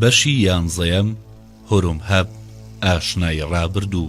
بەشی یانزەیەم هوروم هەب ئاشنای ڕابردوو.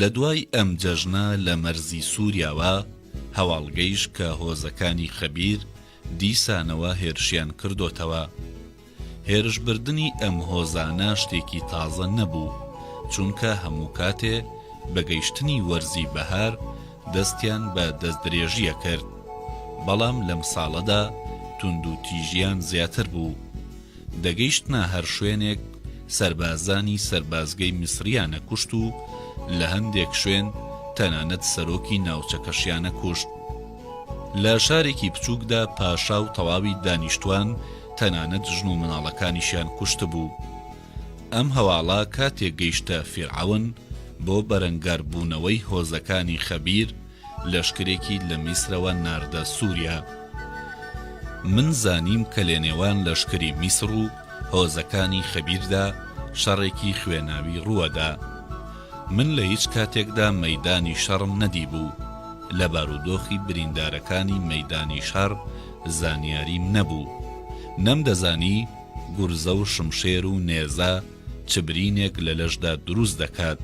لە دوای ئەم جەژنە لە مەرزی سووریاوە، هەواڵگەیش کە هۆزەکانی خەبیر دیسانەوە هێرشیان کردۆتەوە. هێرش بردنی ئەم هۆزانە شتێکی تازە نەبوو، چونکە هەموو کاتێ بە گەیشتنی وەرزی بەهار دەستیان بە دەستدرێژی ئەکرد، بەڵام لەم ساڵەدا توندوتیژیان زیاتر بوو، دەگەیشتنە هەر شوێنێک سەربازانی سەربازگەی میسریان ئەکوشت و لە هەندێک شوێن تەنانەت سەرۆکی ناوچەکەشیان ئەکوشت. لە شارێکی بچووکدا پاشا و تەواوی دانیشتوان تەنانەت ژن و مناڵەکانیشیان کوشتبوو. ئەم هەواڵە کاتێک گەیشتە فیرعەون، بۆ بەرەنگار بوونەوەی هۆزەکانی خەبیر، لەشکرێکی لە میسرەوە ناردە سوریا. من زانیم کە لەنێوان لەشکری میسر و هۆزەکانی خەبیردا شەڕێکی خوێناوی ڕووەدا. من لە هیچ کاتێکدا مەیدانی شەڕم نەدیبوو، لە بارودۆخی بریندارەکانی مەیدانی شەڕ زانیاریم نەبوو، نەمدەزانی گورزە و شمشێر و نێزە چ برینێک لە لەشدا دروست دەکات.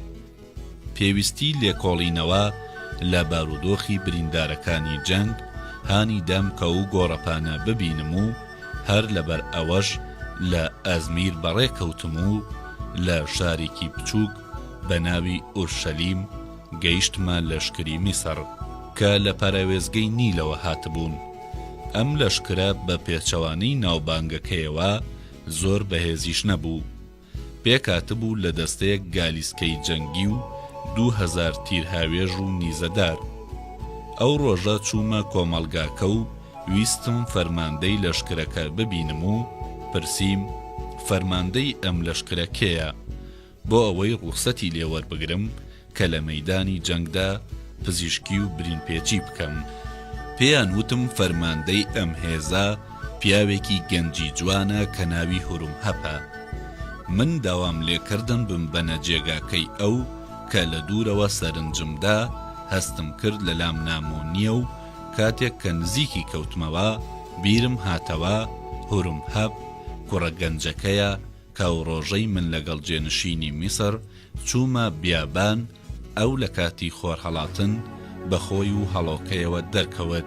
پێویستی لێکۆڵینەوە لە بارودۆخی بریندارەکانی جەنگ هانی دام کە و گۆڕەپانە ببینم و، هەر لەبەر ئەوەش لە ئەزمیر بەڕێ کەوتم و لە شارێکی بچووک بە ناوی ئورشەلیم گەیشتمە لەشکری میسڕ کە لە پەراوێزگەی نیلەوە هاتبوون. ئەم لەشکرە بە پێچەوانەی ناوبانگەکەیەوە زۆر بەهێزیش نەبوو، پێکهاتبوو لە دەستەیەک گالیسکەی جەنگی و دوو هەزار تیرهاوێژ و نیزەدار. ئەو ڕۆژە چوومە کۆمەڵگاکە و ویستم فەرماندەی لەشکرەکە ببینم و پرسیم، فەرماندەی ئەم لەشکرە کێیە؟ بۆ ئەوەی ڕوخسەتی لێ وەربگرم، کە لە مەیدانی جەنگدا پزیشکی و برینپێچی بکەم، پێیان وتم فەرماندەی ئەم هێزە پیاوێکی گەنجی جوانە کە ناوی هورمهەپە. من داوام لێکردن بمبەنە جێگاکەی ئەو، کە لە دوورەوە سەرنجم دا، هەستم کرد لە لام نامۆ نییە و کاتێک کە نزیکی کەوتمەوە، بیرم هاتەوە هورمهەپ کوڕە گەنجەکەیە کە ئەو ڕۆژەی من لەگەڵ جێنشینی میسر چوومە بیابان، ئەو لە کاتی خۆرهەڵاتن بە خۆی و هەڵۆکەیەوە دەرکەوت،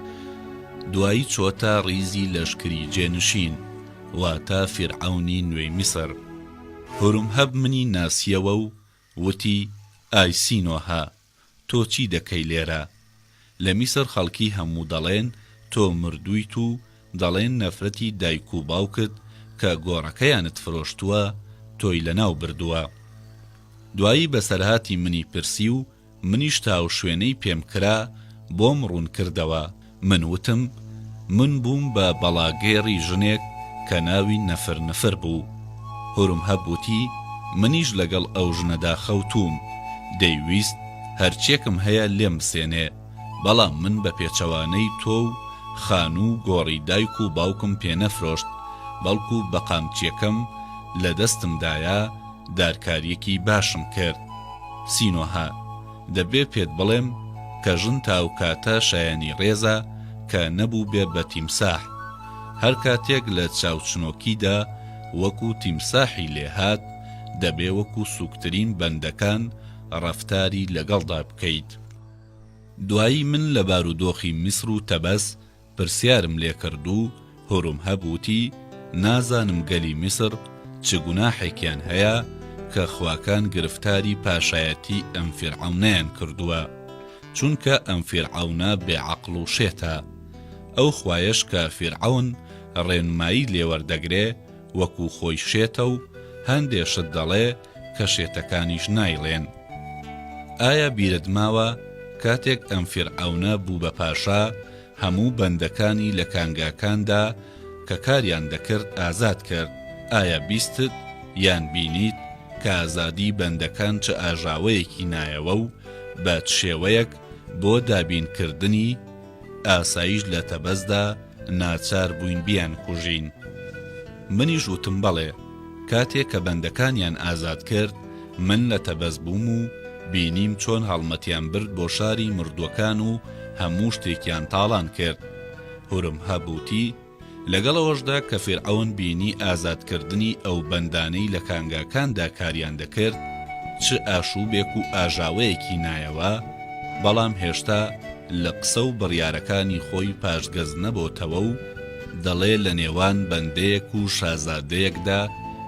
دوایی چۆتە ڕیزی لەشکری جێنشین، واتە فیرعەونی نوێی میسر. هورمهەب منی ناسییەوە و وتی، ئای سینۆهە! تۆ چی دەکەی لێرە؟ لە میسر خەڵکی هەموو دەڵێن تۆ مردوویت و دەڵێن نەفرەتی دایک و باوکت کە گۆڕەکەیانت فرۆشتووە تۆی لەناو بردووە. دوایی بەسەرهاتی منی پرسی و منیش تا و شوێنەی پێم کرا بۆم ڕوون کردەوە. من وتم، من بووم بە بەڵاگێڕی ژنێک کە ناوی نفر نفر بوو. هورمهب وتی، منیش لەگەڵ ئەو ژنەدا خەوتووم، دەیویست هەر چێکم هەیە لێم بسێنێ، بەڵام من بە پێچەوانەی تۆ و خانوو و گۆڕی دایک و باوکم پێ نەفرۆشت، بەڵکو بە قامچییەکەم لە دەستمدایە، دارکارییەکی باشم کرد. سینۆهە. دەبێ پێت بڵێم کە ژن تاوکاتە شایەنی ڕێزە کە نەبووبێ بە تیمساح. هەر کاتێک لە چاوچنۆکیدا وەکوو تیمساحی لێ هات، دەبێ وەکوو سووکترین بەندەکان ڕەفتاری لەگەڵدا بکەیت. دوایی من لە بارودۆخی میسر و تەبەس، پرسیارم لێ کرد و هورمهەب وتی، نازانم گەلی میسر چ گوناحێکیان هەیە کە خواکان گرفتاری پاشایەتی ئەم فیرعەونەیان کردووە، چونکە ئەم فیرعەونە بێ عەقڵ و شێتە. ئەو خوایەش کە فیرعەون ڕێنمایی لێ وەردەگرێ وەکوو خۆی شێتە و هەندێ شت دەڵێ، کە شێتەکانیش نایڵێن. ئایا بیرت ماوە کاتێک ئەم فیرعەونە بوو بە پاشا هەموو بەندەکانی لە کانگاکاندا کە کاریان دەکرد ئازاد کرد، ئایا بیستت یان بینیت کە ئازادی بەندەکان چ ئاژاوەیەکی نایەوە و بە چ شێوەیەک بۆ دابین کردنی، ئاسایش لە تەبەزدا ناچار بووین بیانکوژین. منیش وتم بەڵێ. کاتێ کە بەندەکانیان ئازاد کرد، من لە تەبەز بووم و بینیم چۆن هەڵمەتیان برد بۆ شاری مردووەکان و هەموو شتێکیان تاڵان کرد. هورمهەب وتی. لەگەڵ ئەوەشدا کە فیرعەون بینی ئازادکردنی ئەو بەندانەی لە کانگاکاندا کاریان دەکرد چ ئاشووبێک و ئاژاوەیەکی نایەوە، بەڵام هێشتا لە قسە و بڕیارەکانی خۆی پاشگەز نەبۆتەوە و دەڵێ لە نێوان بەندەیەک و شازادەیەکدا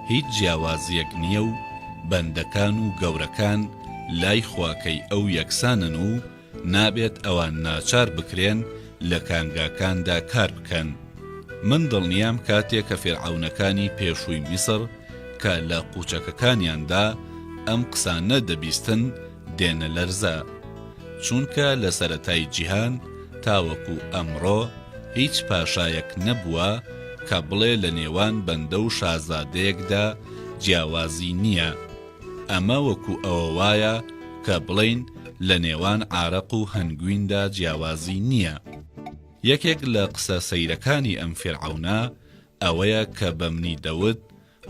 هیچ جیاوازیەک نیە و بەندەکان و گەورەکان لای خواکەی ئەو یەکسانن و نابێت ئەوان ناچار بکرێن لە کانگاکاندا کار بکەن. من دڵنیام کاتێ کە فیرعەونەکانی پێشووی میسر کە لە قوچەکەکانیاندا ئەم قسانە دەبیستن دێنە لەرزە. چونکە لە سەرەتای جیهان تاوەکو ئەمڕۆ هیچ پاشایەک نەبووە کە بڵێ لە نێوان بەندە و شازادەیەکدا جیاوازی نییە. ئەمە وەکو ئەوە وایە کە بڵێین لە نێوان عارەق و هەنگویندا جیاوازی نییە. یەکێک لە قسە سەیرەکانی ئەم فیرعەونە ئەوەیە کە بە منی دەوت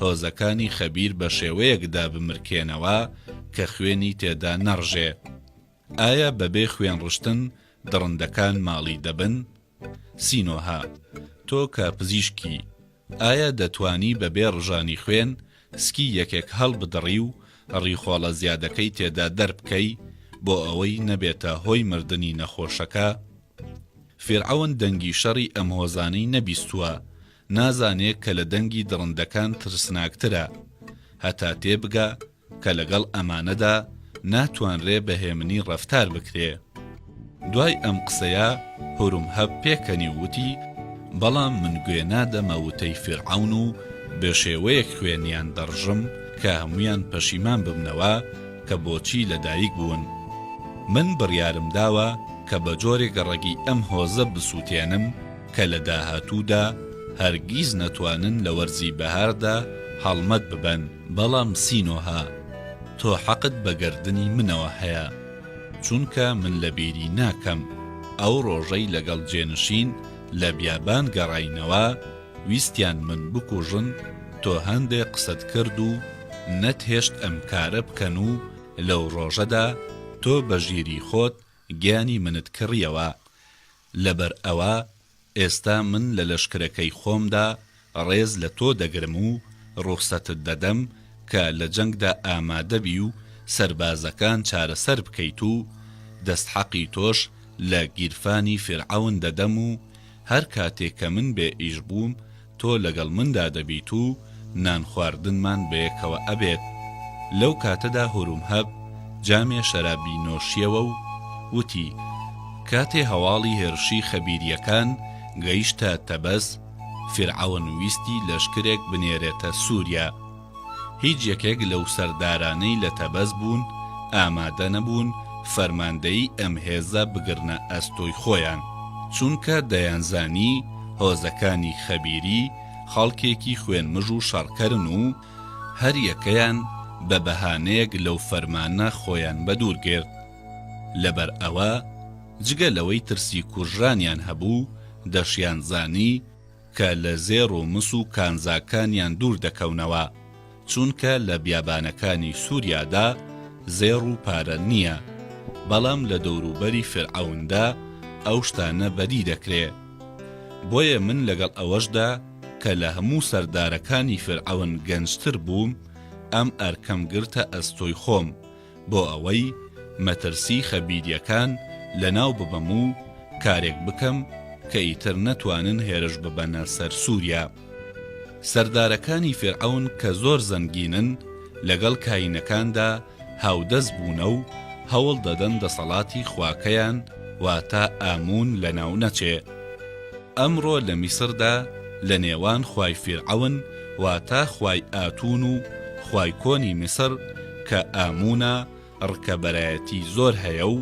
هۆزەکانی خەبیر بە شێوەیەک دابمرکێنەوە کە خوێنی تێدا نەڕژێ. ئایا بەبێ خوێن ڕشتن دڕندەکان ماڵی دەبن؟ سینۆها، تۆ کە پزیشکی، ئایا دەتوانی بەبێ ڕژانی خوێن سکی یەکێک هەڵبدڕی و ڕیخۆڵە زیادەکەی تێدا دەربکەی بۆ ئەوەی نەبێتە هۆی مردنی نەخۆشەکە؟ فیرعەون دەنگی شەڕی ئەم هۆزانەی نەبیستووە، نازانێ کە لە دەنگی دڕندەکان ترسناکترە. هەتا تێبگا کە لەگەڵ ئەمانەدا ناتوانرێ بە هێمنی ڕەفتار بکرێ. دوای ئەم قسەیە هورمهەب پێکەنی و وتی، بەڵام من گوێ نادەمە وتەی فیرعەون و بەشێوەیەک خوێنیان دەڕژم کە هەموویان پەشیمان ببنەوە کە بۆچی لە دایک بوون. من بڕیارم داوە کە بە جۆرێک ڕەگی ئەم هۆزە بسووتێنم کە لە داهاتوودا هەرگیز نەتوانن لە وەرزی بەهاردا هەڵمەت ببەن. بەڵام سینۆهە تۆ حەقت بە گەردنی منەوە هەیە چونکە من لە بیری ناکەم ئەو ڕۆژەی لەگەڵ جێنشین لە بیابان گەڕاینەوە ویستیان من بکوژن تۆ هەندێ قسەت کرد و نەت هێشت ئەم کارە بکەن و لەو ڕۆژەدا تۆ بە ژیری خۆت گیانی منت کڕیەوە لەبەر ئەوە ئێستا من لە لەشکرەکەی خۆمدا ڕێز لە تۆ دەگرم و ڕوخسەتت دەدەم کە لە جەنگدا ئامادەبی و سەربازەکان چارەسەر بکەیت و دەستحەقی تۆش لە گیرفانی فیرعەون دەدەم و هەر کاتێ کە من بێ ئیش بووم تۆ لەگەڵ مندا دەبیت و نان خواردنمان بەیەکەوە ئەبێت، لەو کاتەدا هورومهەب جامێ شەرابی نۆشیەوە و وتی، کاتێ هەواڵی هێرشی خەبیریەکان گەیشتە تەبەس، فیرعەون ویستی لەشکرێک بنێرێتە سوریا، هیچ یەکێک لەو سەردارانەی لە تەبەس بوون ئامادە نەبوون فەرماندەیی ئەم هێزە بگرنە ئەستۆی خۆیان، چونکە دەیانزانی هۆزەکانی خەبیری خەڵکێکی خوێنمژ و شەڕکەرن و هەر یەکەیان بە بەهانەیەک لەو فەرمانە خۆیان بەدوور گرت. لەبەر ئەوە جگە لەوەی ترسی کوژرانیان هەبوو، دەشیانزانی کە لە زێڕ و مس و کانزاکانیان دوور دەکەونەوە، چونکە لە بیابانەکانی سوریادا زێڕ و پارە نییە، بەڵام لە دەوروبەری فیرعەوندا ئەو شتانە بەدی دەکرێ. بۆیە من لەگەڵ ئەوەشدا کە لە هەموو سەردارەکانی فیرعەون گەنجتر بووم، ئەم ئەرکەم گرتە ئەستۆی خۆم، بۆ ئەوەی مەترسی خەبیریەکان لەناو ببەم و کارێک بکەم کە ئیتر نەتوانن هێرش ببەنە سەر سوریا. سەردارەکانی فیرعەون کە زۆر زەنگینن لەگەڵ کاینەکاندا هاودەست بوونە و هەوڵ دەدەن دەسەڵاتی خواکەیان واتە ئامون لەناو نەچێ. ئەمڕۆ لە میسردا لە نێوان خوای فیرعەون، واتە خوای ئاتون و خوای کۆنی میسر کە ئامونە، ڕکەبەرایەتی زۆر هەیە و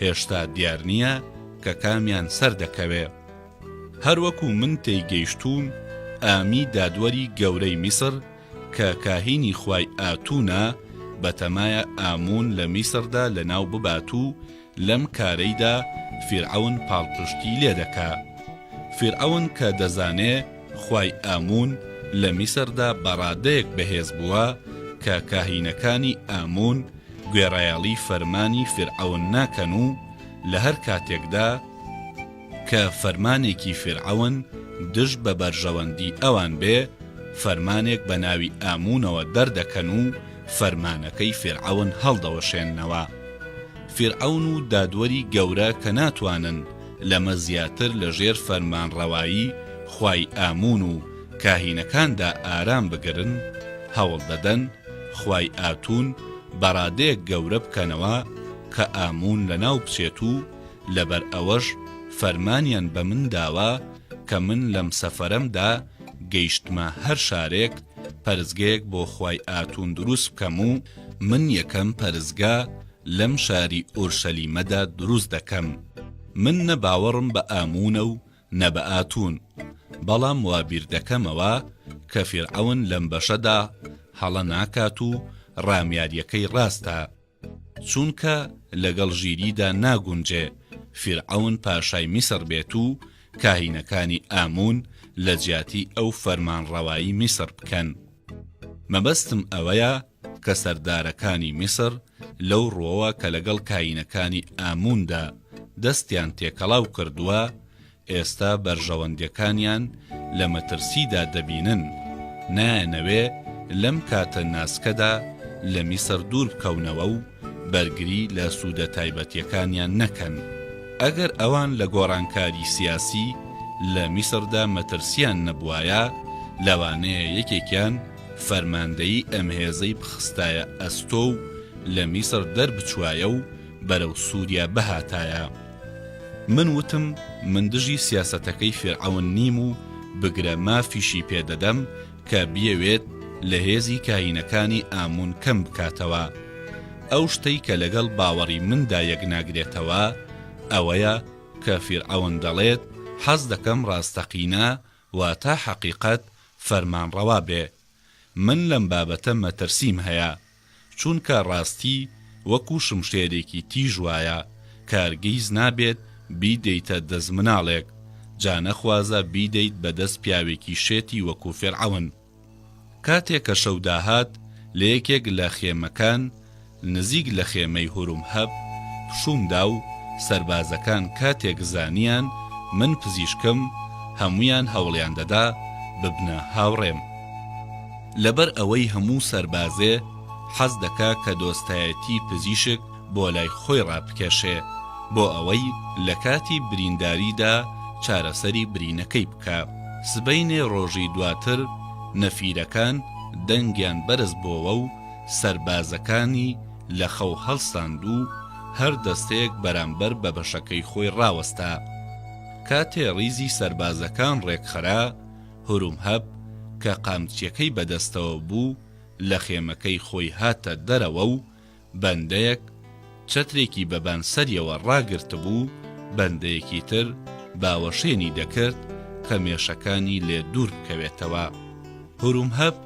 هێشتا دیار نییە کە کامیان سەر دەکەوێ. هەروەکو من تێیگەیشتووم ئامی دادوەری گەورەی میسر کە کاهینی خوای ئاتونە بەتەمایە ئامون لە میسردا لەناو ببات و لەم کارەیدا فیرعەون پاڵپشتی لێ دەکا. فیرعەون کە دەزانێ خوای ئامون لە میسردا بە ڕادەیەک بەهێز بووە کە کاهینەکانی ئامون گوێڕایەڵی فەرمانی فیرعەون ناکەن و لە هەر کاتێکدا، کە فەرمانێکی فیرعەون دژ بە بەرژەوەندی ئەوان بێ، فەرمانێک بە ناوی ئامونەوە دەردەکەن و فەرمانەکەی فیرعەون هەڵدەوەشێننەوە. فیرعەون و دادوەری گەورە کە ناتوانن لەمە زیاتر لە ژێر فەرمانڕەوایی خوای ئامون و کاهینەکاندا ئارام بگرن، هەوڵ دەدەن خوای ئاتون بەڕادەیەک گەورە بکەنەوە کە ئامون لەناو بچێت و لەبەر ئەوەش فەرمانیان بە من داوە کە من لەم سەفەرەمدا گەیشتمە هەر شارێک پەرستگەیەک بۆ خوای ئاتون دروست بکەم و من یەکەم پەرستگە لەم شاری ئورشەلیمەدا دروست دەکەم. من نە باوەڕم بە ئامونە و نە بە ئاتون، بەڵام وا بیر دەکەمەوە کە فیرعەون لەم بەشەدا هەڵە ناکات و ڕامیارییەکەی ڕاستە. چونکە لەگەڵ ژیریدا ناگونجێ فیرعەون پاشای میسڕ بێت و کاهینەکانی ئامون لەجیاتی ئەو فەرمانڕەوایی میسڕ بکەن. مەبەستم ئەوەیە کە سەردارەکانی میسڕ لەو ڕوەوە کە لەگەڵ کاینەکانی ئاموندا دەستیان تێکەڵاو کردووە ئێستا بەرژەوەندیەکانیان لە مەترسیدا دەبینن، نایانەوێ لەم کاتە ناسکەدا لە میسر دوور بکەونەوە و بەرگری لە سوودە تایبەتیەکانیان نەکەن. ئەگەر ئەوان لە گۆڕانکاری سیاسی لە میسردا مەترسیان نەبوایە، لەوانەیە یەکێکیان فەرماندەیی ئەم هێزەی بخستایە ئەستۆ و لە میسر دەربچوایە و بەرەو سوریا بهاتایە. من وتم من دژی سیاسەتەکەی فیرعەون نیم و بگرە مافیشی پێ دەدەم کە بیەوێت لە هێزی کاهینەکانی ئامون کەم بکاتەوە. ئەو شتەی کە لەگەڵ باوەڕی مندا یەکناگرێتەوە ئەوەیە کە فیرعەون دەڵێت حەز دەکەم ڕاستەقینە واتە حەقیقەت فەرمانڕەوا بێ من لەم بابەتە مەترسیم هەیە چونکە ڕاستی وەکو شمشێرێکی تیژ وایە کارگیز نابێت بیدەیتە دەست مناڵێک جا نەخوازە بیدەیت بەدەست پیاوێکی شێتی وەکو فیرعەون کاتێک کە شەو داهات لەیەکێک لە خێمەکان نزیک لە خێمەی هورومهەب پشووم دا و سەربازەکان کاتێک زانیان من پزیشکم هەموویان هەوڵیان دەدا ببنە هاوڕێم. لەبەر ئەوەی هەموو سەربازێ حەز دەکا کە دۆستایەتی پزیشک بۆ لای خۆی ڕابکێشێ بۆ ئەوەی لە کاتی برینداری دا چارەسەری برینەکەی بکا. سبەینێ ڕۆژی دواتر نەفیرەکان دەنگیان بەرز بۆوە و سەربازەکانی لە خەو هەڵساند و هەر دەستەیەک بەرامبەر بە بەشەکەی خۆی ڕاوەستا. کاتێ ڕیزی سەربازەکان ڕێکخرا، هورومهەب کە قامچیەکەی بەدەستەوە بوو لە خێمەکەی خۆی هاتە دەرەوە و بەندەیەک، چەترێکی بەبان سەریەوە ڕاگرتبوو، بەندەیەکی تر باوەشێنی دەکرد کە مێشەکانی لێ دوور بکەوێتەوە. هورومهەپ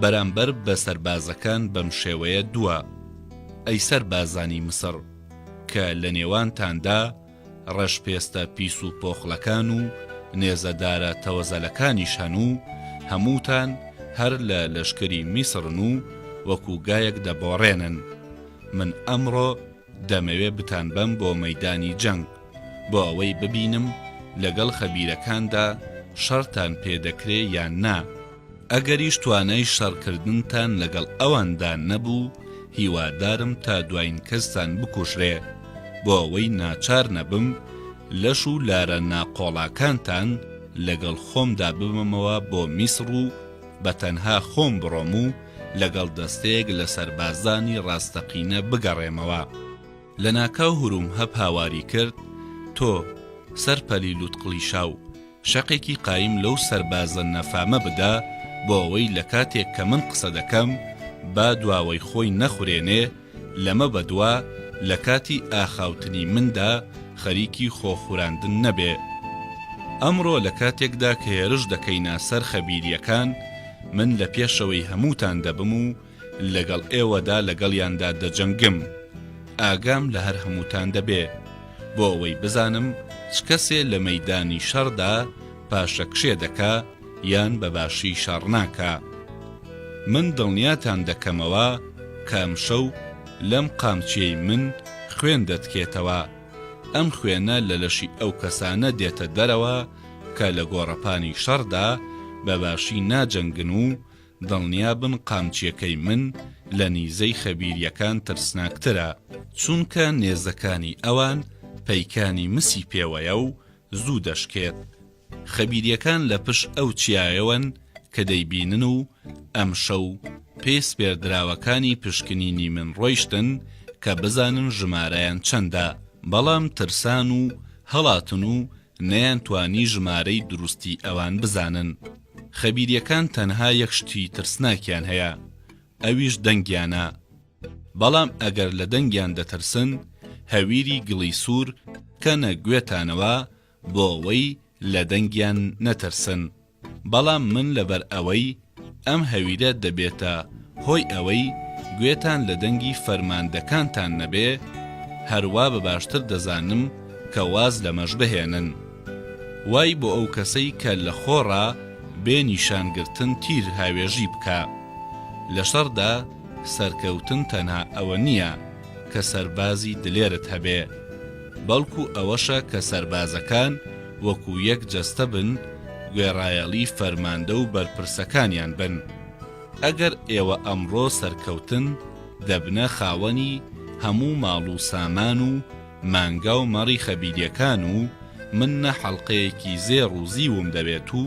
بەرامبەر بە سەربازەکان بەم شێوەیە دوا، ئەی سەربازانی میسڕ کە لە نێوانتاندا، ڕەش پێستە پیس و پۆخڵەکان و نێزە دارە تەوەزەلەکانیش هەن و هەمووتان هەر لە لەشکری میسڕن و وەکو گایەک دەبۆڕێنن. من ئەمڕۆ دەمەوێ بتانبەم بۆ مەیدانی جەنگ بۆ ئەوەی ببینم لەگەڵ خەبیرەکاندا شەڕتان پێ دەکرێ یان نا. ئەگەریش توانای شەڕکردنتان لەگەڵ ئەواندا نەبوو، هیوادارم تا دوایین کەستان بکوژرێ، بۆ ئەوەی ناچار نەبم لەش و لارە ناقۆڵاکانتان لەگەڵ خۆمدا ببەمەوە بۆ میسڕ و بە تەنها خۆم بڕۆم و لەگەڵ دەستەیەک لە سەربازانی ڕاستەقینە بگەڕێمەوە. لەناکاو هورومهەپ هاواری کرد، تۆ، سەرپەلی لووتقڵیشاو، شەقێکی قایم لەو سەربازە نەفامە بدا بۆ ئەوەی لە کاتێک کە من قسە دەکەم با دواوەی خۆی نەخورێنێ، لەمە بە دوا لە کاتی ئاخاوتنی مندا خەریکی خۆ خوراندن نەبێ. ئەمڕۆ لە کاتێکدا کە هێرش دەکەینە سەر خەبیرییەکان من لە پێشەوەی هەمووتان دەبم و لەگەڵ ئێوەدا لەگەڵیاندا دەجەنگم. ئاگام لە هەر هەمووتان دەبێ، بۆ ئەوەی بزانم چ کەسێ لە مەیدانی شەڕدا پاشەکشێ دەکا یان بە باشی شەڕ ناکا. من دڵنیاتان دەکەمەوە کە ئەمشەو لەم قامچییەی من خوێن دەتکێتەوە. ئەم خوێنە لە لەشی ئەو کەسانە دێتە دەرەوە کە لە گۆڕەپانی شەڕدا بە باشی ناجەنگن و دڵنیابن قامچیەکەی من لە نیزەی خەبیریەکان ترسناکترە چونکە نێزەکانی ئەوان پەیکانی مسی پێوەیە و زوو دەشکێت خەبیریەکان لە پشت ئەو چیایەوەن کە دەیبینن و ئەمشەو پێ سپێردراوەکانی پشکنینی من ڕۆیشتن کە بزانن ژمارەیان چەندە بەڵام ترسان و هەڵاتن و نەیانتوانی ژمارەی دروستی ئەوان بزانن. خەبیریەکان تەنها یەک شتی ترسناکیان هەیە ئەویش دەنگیانە. بەڵام ئەگەر لە دەنگیان دەترسن هەویری گڵی سور کەنە گوێتانەوە بۆ ئەوەی لە دەنگیان نەترسن. بەڵام من لەبەر ئەوەی ئەم هەویرە دەبێتە هۆی ئەوەی گوێتان لە دەنگی فەرماندەکانتان نەبێ، هەر وا بە باشتر دەزانم کە واز لەمەش بهێنن. وای بۆ ئەو کەسەی کە لە خۆڕا بێ نیشان گرتن تیر هاوێژی بکا. لە شەڕدا سەرکەوتن تەنها ئەوە نییە کە سەربازی دلێرت هەبێ. بەڵکو ئەوەشە کە سەربازەکان وەکو یەک جەستە بن، گوێڕایەڵی فەرماندە و بەرپرسەکانیان بن. ئەگەر ئێوە ئەمڕۆ سەرکەوتن، دەبنە خاوەنی هەموو ماڵ و سامان و مانگا و مەڕی خەبیریەکان و من نە حەڵقەیەکی زێڕ و زیوم دەوێت و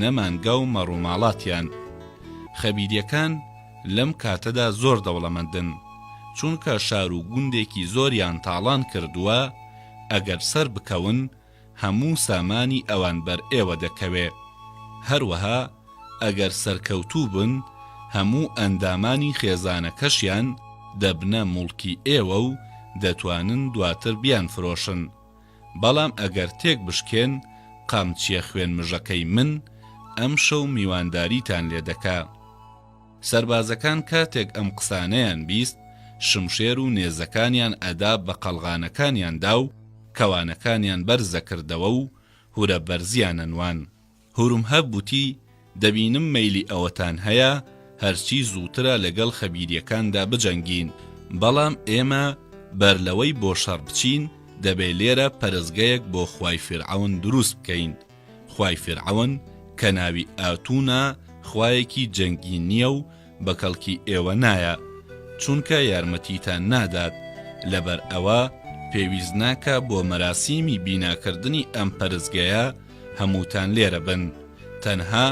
نە مانگا و مەڕوماڵاتیان. خەبیریەکان. لەم کاتەدا زۆر دەوڵەمەندن، چونکە شار و گوندێکی زۆریان تاڵان کردووە، ئەگەر سەربکەون، هەموو سامانی ئەوان بەر ئێوە دەکەوێ. هەروەها ئەگەر سەرکەوتوو بن، هەموو ئەندامانی خێزانەکەشیان دەبنە موڵکی ئێوە و دەتوانن دواتر بیانفرۆشن. بەڵام ئەگەر تێک بشکێن قامچیە خوێن مژەکەی من ئەمشەو میوانداریتان لێ دەکا. سەربازەکان کاتێک ئەم قسانەیان بیست شمشێر و نێزەکانیان ئەدا بە قەڵغانەکانیان دا و کەوانەکانیان بەرز ئەکردەوە و هورە بەرزیان ئەنوان. هورمهەب وتی، دەبینم مەیلی ئەوەتان هەیە هەرچی زووترە لەگەڵ خەبیرییەکاندا بجەنگین، بەڵام ئێمە بەرلەوەی بۆ شەڕ بچین، دەبێ لێرە پەرستگەیەک بۆ خوای فیرعەون دروست بکەین. خوای فیرعەون کە ناوی ئاتونە، خوایەکی جەنگی نییە و بەکەڵکی ئێوە نایە چونکە یارمەتیتان نادات لەبەر ئەوە پێویست ناکا بۆ مەراسیمی بیناکردنی ئەم پەرستگەیە هەمووتان لێرە بن تەنها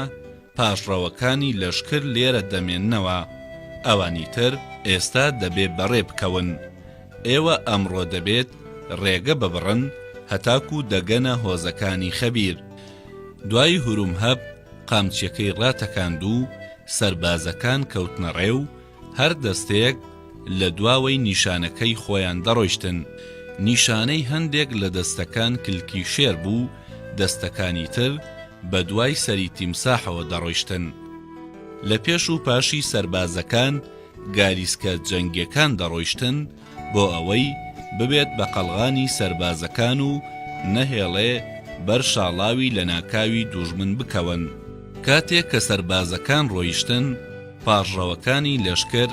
پاشڕەوەکانی لەشکر لێرە دەمێننەوە ئەوانی تر ئێستا دەبێ بەڕێ بکەون ئێوە ئەمڕۆ دەبێت ڕێگە ببڕن هەتاکو دەگەنە هۆزەکانی خەبیر دوای هورومهەب قامچیەکەی ڕاتەکاند و سەربازەکان کەوتنە ڕێ و هەر دەستەیەک لە دواوەی نیشانەکەی خۆیان دەڕۆیشتن، نیشانەی هەندێک لە دەستەکان کلکی شێر بوو، دەستەکانی تر بە دوای سەری تیمساحەوە دەڕۆیشتن. لە پێش و پاشی سەربازەکان گالیسکە جەنگیەکان دەڕۆیشتن، بۆ ئەوەی ببێت بە قەڵغانی سەربازەکان و نەهێڵێ بەر شاڵاوی لەناکاوی دوژمن بکەون. کاتێک کە سەربازەکان ڕۆیشتن، پاڕڕەوەکانی لەشکر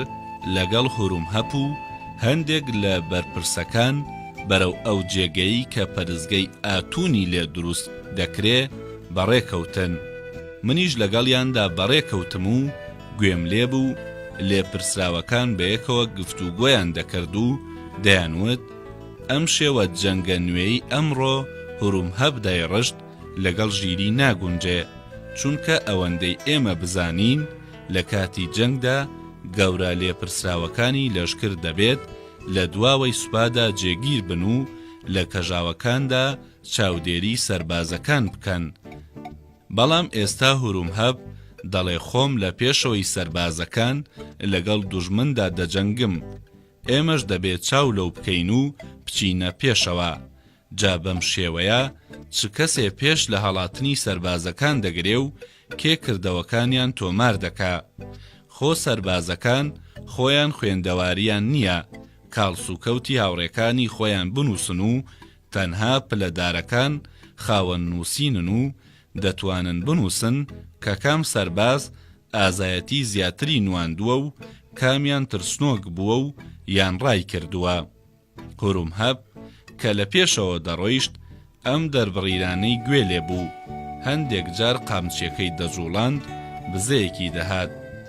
لەگەڵ هورومهەپ و هەندێک لە بەرپرسەکان بەرەو ئەو جێگەی کە پەرستگەی ئاتونی لێ دروست دەکرێ بەڕێکەوتن. منیش لەگەڵیاندا بەڕێکەوتم و گوێم لێ بوو لێپرسراوەکان بەیەکەوە گفتوگۆیان دەکرد و دەیانوت، ئەم شێوە جەنگە نوێی ئەمڕۆ هورومهەب دایڕشت لەگەڵ ژیری ناگونجێ، چونکە ئەوەندەی ئێمە بزانین لە کاتی جەنگدا گەورە لێپرسراوەکانی لەشکر دەبێت لە دواوەی سوپادا جێگیر بن و لە کەژاوەکاندا چاودێری سەربازەکان بکەن، بەڵام ئێستا هورومهەب دەڵێ خۆم لە پێشەوەی سەربازەکان لەگەڵ دوژمندا دەجەنگم، ئێمەش دەبێ چاو لەو بکەین و بچینە پێشەوە، جا بەم شێوەیە چ کەسێ پێش لە هەڵاتنی سەربازەکان دەگرێ و کێ کردەوەکانیان تۆمار دەکا؟ خۆ سەربازەکان خۆیان خوێندەواریان نییە کاڵسوکەوتی هاوڕێکانی خۆیان بنووسن و تەنها پلە دارەکان خاوەن نووسینن و دەتوانن بنووسن کە کام سەرباز ئازایەتی زیاتری نواندووە و کامیان ترسنۆک بووە و یان ڕای کردووە. هورومهەب کە لە پێشەوە دەڕۆیشت ئەم دەربڕیرانەی گوێ لێ بوو. هەندێک جار قامچیەکەی دەجوڵاند بزەیەکی دەهات.